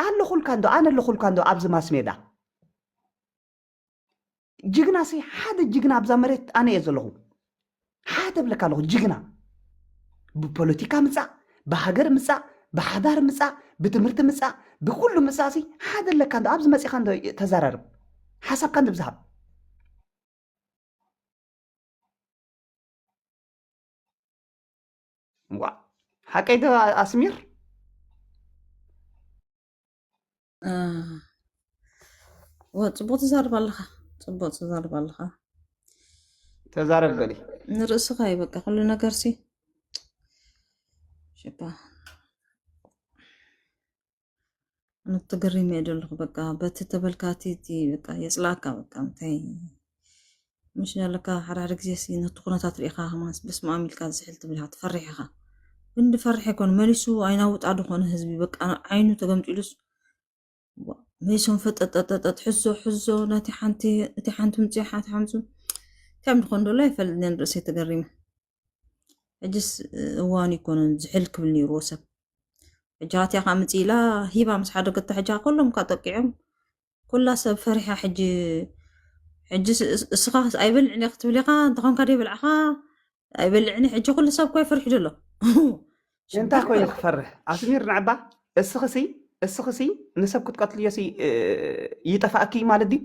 ኣለኹልካ እንዶ ኣነ ኣለኹልካ እንዶ ኣብዚ ማስሜዳ ጅግና ሲ ሓደ ጅግና ኣብዛ መሬት ኣነ እየ ዘለኹ ሓደ ብለካ ኣለኹ ጅግና ብፖለቲካ ምፃእ ብሃገር ምፃእ ብሓዳር ምፃእ ብትምህርቲ ምፃእ ብኩሉ ምፃእ ሲ ሓደ ኣለካ እንዶ ኣብዚ መፂኻ እንዶ ተዘራርብ ሓሳብካ እንዶ ብዝሃብ ዋ ሓቀይ ዶ ኣስሚር ፅቡቅ ትዛርብ ኣለኻ ፅቡቅ ትዛርብ ኣለኻ ተዛረብ በሊ ንርእስኻ እዩ በቃ ኩሉ ነገር ሲ ሽባ ኣነ ትግሪም እየ ዘለኹ በቃ በቲ ተበልካቲ እቲ በቃ የፅላእካ በቃ እንታይ ምሽ ኣለካ ሓደ ሓደ ግዜ ሲ ነቲ ኩነታት ርኢኻ ከማን በስመኣም ኢልካ ዝሕል ትብል ኢኻ ትፈርሕ ኢኻ ክንዲ ፈርሕ ኣይኮነ መሊሱ ኣይናውጣ ድኾነ ህዝቢ በቃ ዓይኑ ተገምጢሉስ መሊሶም ፈጠጠጠጠጥ ሕዞ ሕዞ ነቲ ሓንቲ እቲ ሓንቲ ምፅያ ሓንቲ ሓምፁ እንታይ ምድኾን ዶሎ ኣይፈልጥን ርእሰይ ተገሪመ ሕጅስ እዋኑ ይኮነን ዝሕል ክብል ነይሩዎ ሰብ ሕጂ ሃትያ ከዓ ምፅኢላ ሂባ ምስ ሓደገታ ሕጂ ከሎም ከዓ ጠቂዖም ኩላ ሰብ ፈሪሓ ሕጂ ሕጂ እስኻ ኣይበልዕን ክትብል ኢኻ እንተኾንካ ደይበልዕኻ ኣይበልዕን ሕጂ ኩሉ ሰብ እኮ ይፈርሕ ዘሎ እንታይ ኮይኑ ክፈርሕ ኣስሚር ንዕባ እስኽሲ እስኽሲ ንሰብ ክትቀትልዮሲ ይጠፋእኪ ማለት ድዩ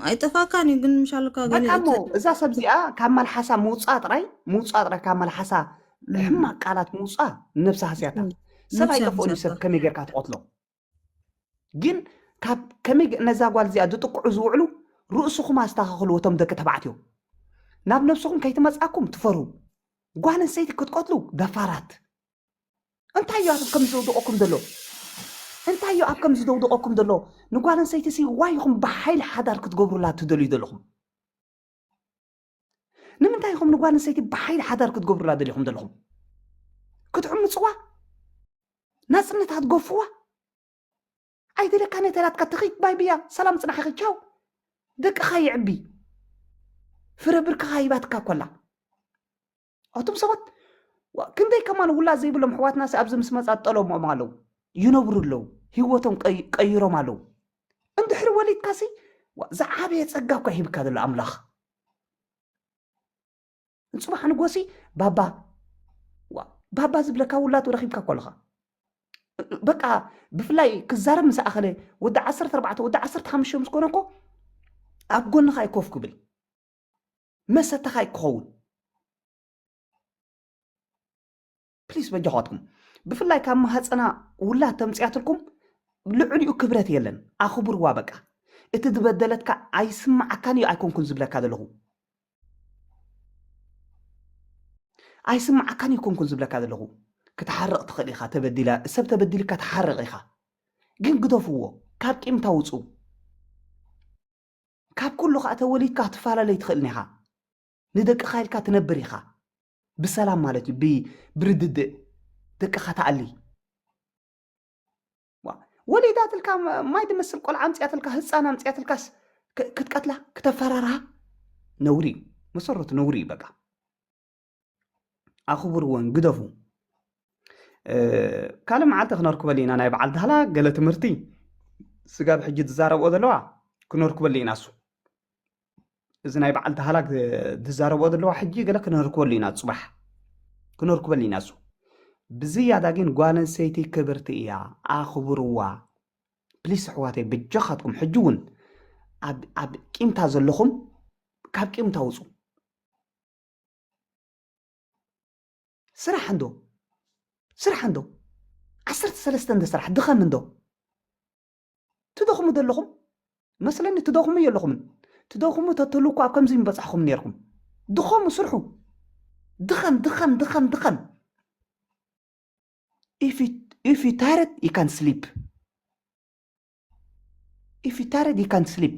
ኣይጠፋእካን እዩ ግን ምሻልካ በቃሞ እዛ ሰብ እዚኣ ካብ መልሓሳ ምውፃ ጥራይ ምውፃ ጥራይ ካብ መልሓሳ ሕማቅ ቃላት ምውፃ ነብሳ ሃስያታ ሰብ ኣይጠፍኦን እዩ ሰብ ከመይ ጌርካ ትቐትሎ ግን ካብ ከመይ ነዛ ጓል እዚኣ ዝጥቅዑ ዝውዕሉ ርእስኹም ኣስተኻኽልዎ እቶም ደቂ ተባዕትዮ ናብ ነብስኹም ከይትመጻኩም ትፈሩ ጓል ኣንስተይቲ ክትቀትሉ ደፋራት እንታይ እዩ ኣብ ከምዚ ዘውድቐኩም ዘሎ እንታይ እዩ ኣብ ከምዚ ዘውድቐኩም ዘሎ ንጓል ኣንስተይቲ ሲ ዋይ ኢኹም ብሓይሊ ሓዳር ክትገብሩላ ትደልዩ ዘለኹም ንምንታይ ኢኹም ንጓል ኣንስተይቲ ብሓይሊ ሓዳር ክትገብሩላ ደሊኹም ዘለኹም ክትዕምፅዋ ናፅነታ ትገፍዋ ኣይደለካ ነተላትካ ትኺት ባይ ብያ ሰላም ፅናሕኺ ቻው ደቅኻ ይዕቢ ፍረ ብርክኻ ሂባትካ ኮላ ኣቱም ሰባት ክንደይ ከማን ውላድ ዘይብሎም ኣሕዋትና ኣብዚ ምስ መፃ ጠለሞም ኣለዉ ይነብሩ ኣለዉ ሂወቶም ቀይሮም ኣለዉ እንድሕሪ ወሊድካሲ ዝዓበየ ፀጋ እኳ ሂብካ ዘሎ ኣምላኽ ንፅባሕ ንጎሲ ባባ ባባ ዝብለካ ውላድ ረኪብካ እኮ ኣለኻ በቃ ብፍላይ ክዛረብ ምስ ኣኸለ ወዲ ዓሰርተ ኣርባዕተ ወዲ ዓሰርተ ሓሙሽተ ምስ ኮነ እኮ ኣብ ጎንኻ ይኮፍ ክብል መሰተኻ እዩ ክኸውን ፕሊስ በጃኻትኩም ብፍላይ ካብ ማህፀና ውላድ ተምፅያትልኩም ልዕሊኡ ክብረት የለን ኣኽብርዋ በቃ እቲ ዝበደለትካ ኣይስማዓካን እዩ ኣይኮንኩን ዝብለካ ዘለኹ ኣይስማዓካን እዩ ኮንኩን ዝብለካ ዘለኹ ክትሓርቕ ትኽእል ኢኻ ተበዲላ ሰብ ተበዲልካ ትሓርቕ ኢኻ ግን ግደፍዎ ካብ ቂምታ ውፁ ካብ ኩሉ ከኣ ተወሊድካ ክትፋላለ ኣይትኽእልን ኢኻ ንደቅኻ ኢልካ ትነብር ኢኻ ብሰላም ማለት እዩ ብርድድእ ደቅኻ ትኣሊ ወሊዳትልካ ማይ ድመስል ቆልዓ ኣምፅያትልካ ህፃን ኣምፅያትልካስ ክትቀትላ ክተፈራርሃ ነውሪ እዩ መሰረቱ ነውሪ እዩ በቃ ኣኽብርወን ግደፉ ካልእ መዓልቲ ክነርክበሉ ኢና ናይ በዓል ዳህላ ገለ ትምህርቲ ስጋብ ሕጂ ዝዛረብኦ ዘለዋ ክነርክበሉ ኢና እሱ እዚ ናይ በዓል ዳህላ ዝዛረብኦ ዘለዋ ሕጂ ገለ ክነርክበሉ ኢና ፅባሕ ክነርክበሉ ኢና እሱ ብዝያዳ ግን ጓል ኣንስተይቲ ክብርቲ እያ ኣኽብርዋ ፕሊስ ኣሕዋተይ ብጃኻትኩም ሕጂ እውን ኣብ ቂምታ ዘለኹም ካብ ቂምታ ውፁ ስራሕ እንዶ ስራሕ እንዶ ዓሰርተ ሰለስተ እንደ ስራሕ ድኸም እንዶ ትደኽሙ ዘለኹም መስለኒ ትደኽሙ የለኹምን ትደኽሙ ተትህሉ እኳ ኣብ ከምዚ ምበጻሕኹም ነርኩም ድኸሙ ስርሑ ድኸም ድኸም ድኸም ድኸም if you, if you tired you can sleep if you tired you can sleep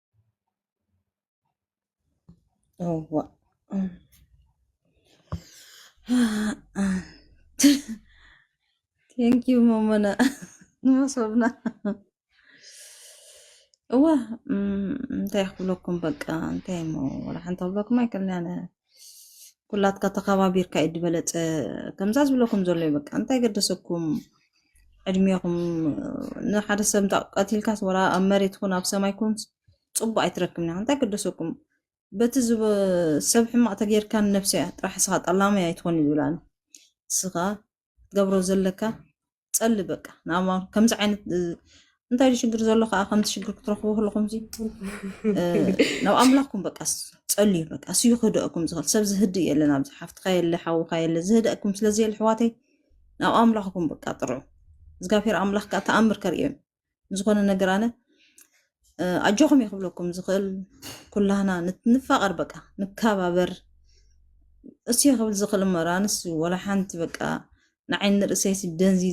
yawwa thank you mamana መሶብና እዋ እንታይ ክብለኩም በቃ እንታይ እሞ ወላ ሓንቲ ክብለኩም ኣይክእልን ኣነ ኩላትካ ተኸባቢርካ እዩ ዝበለፀ ከምዛ ዝብለኩም ዘሎ እዩ በቃ እንታይ ገደሰኩም ዕድሜኹም ንሓደ ሰብ እንታ ቀቲልካስ ወላ ኣብ መሬት ኩን ኣብ ሰማይ ኩን ፅቡቅ ኣይትረክብን ኢኻ እንታይ ገደሰኩም በቲ ሰብ ሕማቅ ተጌርካ ንነብሲ እያ ጥራሕ ስኻ ጠላማይ ኣይትኾን እዩ ዝብላኒ ስኻ ትገብሮ ዘለካ ጸሊ በቃ ንኣማ ከምዚ ዓይነት እንታይ ዩ ሽግር ዘሎ ከዓ ከምቲ ሽግር ክትረኽቡ ከለኹም ዚ ናብ ኣምላኽኩም በቃ ጸልዩ በቃ ስዩ ክህደአኩም ዝኽእል ሰብ ዝህድእ የለን ኣብዚ ሓፍትካ የለ ሓውካ የለ ዝህደአኩም ስለዘየለ ሕዋተይ ናብ ኣምላኽኩም በቃ ጥርዑ እግዚኣብሔር ኣምላኽ ከዓ ተኣምር ከርእዮም ዝኾነ ነገር ኣነ ኣጆኹም እየ ክብለኩም ዝኽእል ኩላህና ንፋቐር በቃ ንከባበር እሱ ክብል ዝኽእል እሞ ኣነስ ወላ ሓንቲ በቃ ንዓይ ንርእሰይሲ ደንዚ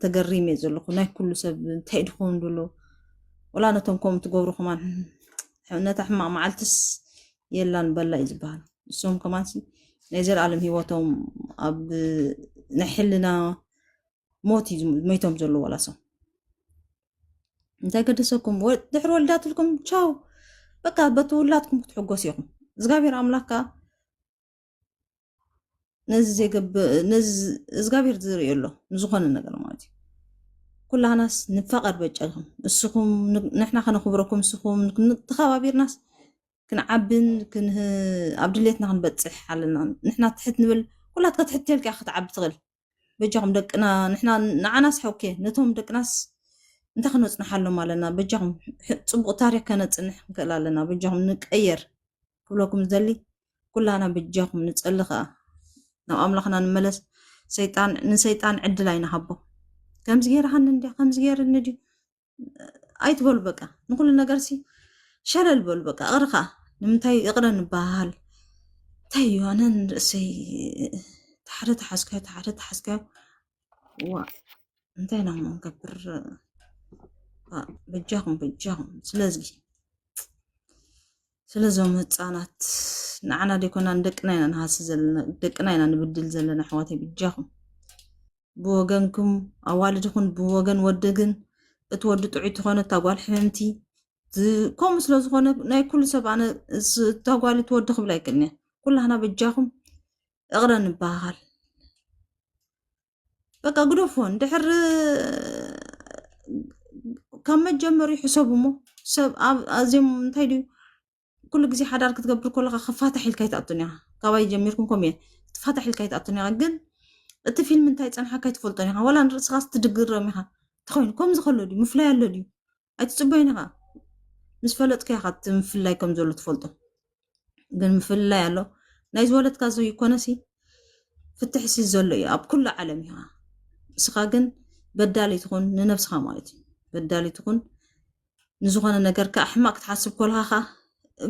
ተገሪም እየ ዘለኹ ናይ ኩሉ ሰብ እንታይ ድኸውን ደሎ ወላ ነቶም ከምኡ ትገብሩ ከማን ነታ ሕማቕ መዓልትስ የላን በላ እዩ ዝበሃል እሶም ከማንሲ ናይ ዘለኣለም ሂወቶም ኣብ ናይ ሕልና ሞት እዩ ሞይቶም ዘለዉ ዋላሶም እንታይ ገደሰኩም ድሕሪ ወልዳትልኩም ቻው በቃ በቲ ውላትኩም ክትሕጎስ ኢኹም እግዚኣብሔር ኣምላክ ከዓ ነዚ ዘገብ ነዚ እግዚኣብሔር ዝርኢ ኣሎ ንዝኾነ ነገር ማለት እዩ ኩላህናስ ንፋቐር በጨልኹም እስኹም ንሕና ከነኽብረኩም እስኹም ተኸባቢርናስ ክንዓብን ኣብ ድሌትና ክንበፅሕ ኣለና ንሕና ትሕት ንብል ኩላትካ ትሕት ተልካ ክትዓቢ ትኽእል በጃኹም ደቅና ንሕና ንዓናስ ሐውኬ ነቶም ደቅናስ እንታይ ክነፅንሓሎም ኣለና በጃኹም ፅቡቅ ታሪክ ከነፅንሕ ንክእል ኣለና በጃኹም ንቀየር ክብለኩም ዝደሊ ኩላና በጃኹም ንፀሊ ከዓ ናብ ኣምላኽና ንመለስ ሰይጣን ንሰይጣን ዕድል ኣይንሃቦ ከምዚ ገይርሃኒ እንድያ ከምዚ ገይርኒ ድዩ ኣይትበሉ በቃ ንኩሉ ነገር ሲ ሸለል በሉ በቃ እቕሪ ከዓ ንምንታይ እቕረ ንበሃል እንታይ እዩ ኣነ ንርእሰይ ተሓደ ተሓዝካዮ ተሓደ ተሓዝካዮ ዋ እንታይ ኢና ክንገብር በጃኹም በጃኹም ስለዚ ስለዞም ህፃናት ንዓና ደይኮና ንደቅና ኢና ንሃሲ ዘለና ደቅና ኢና ንብድል ዘለና ኣሕዋተይ ብጃኹም ብወገንኩም ኣዋልድ ይኹን ብወገን ወዲ ግን እቲ ወዲ ጥዑይ ትኾነ እታ ጓል ሕምምቲ ከምኡ ስለ ዝኾነ ናይ ኩሉ ሰብ ኣነ እታ ጓል እቲ ወዲ ክብል ኣይክእልን እየ ኩላህና በጃኹም እቕረ ንበሃል በቃ ግደፎ እንድሕር ካብ መጀመሪ ሕሰቡ እሞ ሰብ ኣዝዮም እንታይ ድዩ ኩሉ ግዜ ሓዳር ክትገብር ከለካ ክፋታሕ ኢልካ ይትኣቱን ኢኻ ካባይ ጀሚርኩም ከምኡ እየ ትፋታሕ ኢልካ ይትኣቱን ኢኻ ግን እቲ ፊልም እንታይ ፀንሓካ ኣይትፈልጦን ኢኻ ዋላ ንርእስኻ ትድግረም ኢኻ እንተኮይኑ ከምዚ ከሎ ድዩ ምፍላይ ኣሎ ድዩ ኣይትፅበዮን ኢኻ ምስ ፈለጥካ ኢኻ እቲ ምፍላይ ከም ዘሎ ትፈልጦ ግን ምፍላይ ኣሎ ናይ ዝወለድካ ዘይኮነሲ ፍትሒ ሲ ዘሎ እዩ ኣብ ኩሉ ዓለም ኢኻ ንስኻ ግን በዳሊ ትኹን ንነብስኻ ማለት እዩ በዳሊ ትኹን ንዝኾነ ነገር ከዓ ሕማቅ ክትሓስብ ኮልካ ከዓ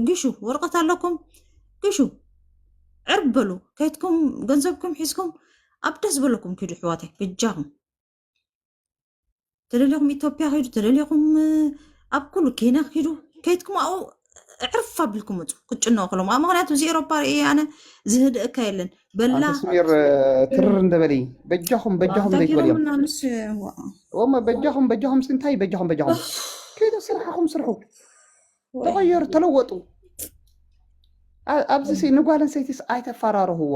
ግሹ ወረቀት ኣለኩም ግሹ ዕርብ በሉ ከይትኩም ገንዘብኩም ሒዝኩም ኣብ ደስ በለኩም ኪዱ ሕዋተይ በጃኹም ተደሊኹም ኢትዮጵያ ኪዱ ተደሊኹም ኣብ ኩሉ ኬና ኪዱ ከይትኩም ኣብኡ ዕርፍ ኣቢልኩም ምፁ ክጭነቑ ከሎም ኣብ ምክንያቱ እዚ ኤሮፓ ርእየ ኣነ ዝህድእካ የለን በላ ኣንቲ ስሚር ትርር እንደበሊ በጃኹም በጃኹም ዘይትበልዮም ዳኪሮምና ምስ እሞ በጃኹም በጃኹም ሲ እንታይ በጃኹም በጃኹም ከይዶ ስርሓኹም ስርሑ ተቐየሩ ተለወጡ ኣ- ኣብዚ ሲ ንጓል ኣንሰይቲስ ኣይተፈራርህዋ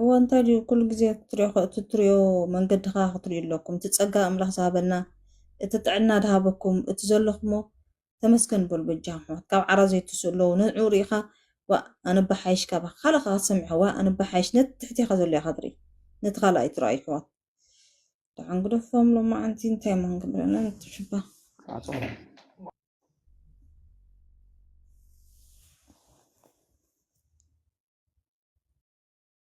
እወ እንታይ ድዩ ኩሉ ግዜ ክትሪኦ እቲ ትሪኦ መንገዲ ከዓ ክትሪኡ ኣለኩም እቲ ፀጋ ኣምላኽ ዝሃበና እቲ ጥዕና ድሃበኩም እቲ ዘለኹሞ ተመስገን በሉ በጃኹም ኣሕዋት ካብ ዓራ ዘይትስኡ ኣለዉ ንዑ ርኢኻ ዋእ ኣነ ባሓይሽ ካባኻ ካልእ ከዓ ክትሰምዕ ኢኻ ዋእ ኣነ ባሓይሽ ነቲ ትሕቴኻ ዘሎ ኢኻ ትርኢ ነቲ ካልእ ኣይትርኣዩ ኣሕዋት ደሓን ግደፎም ሎማዓንቲ እንታይ እሞ ክንገብረና ንትሽባ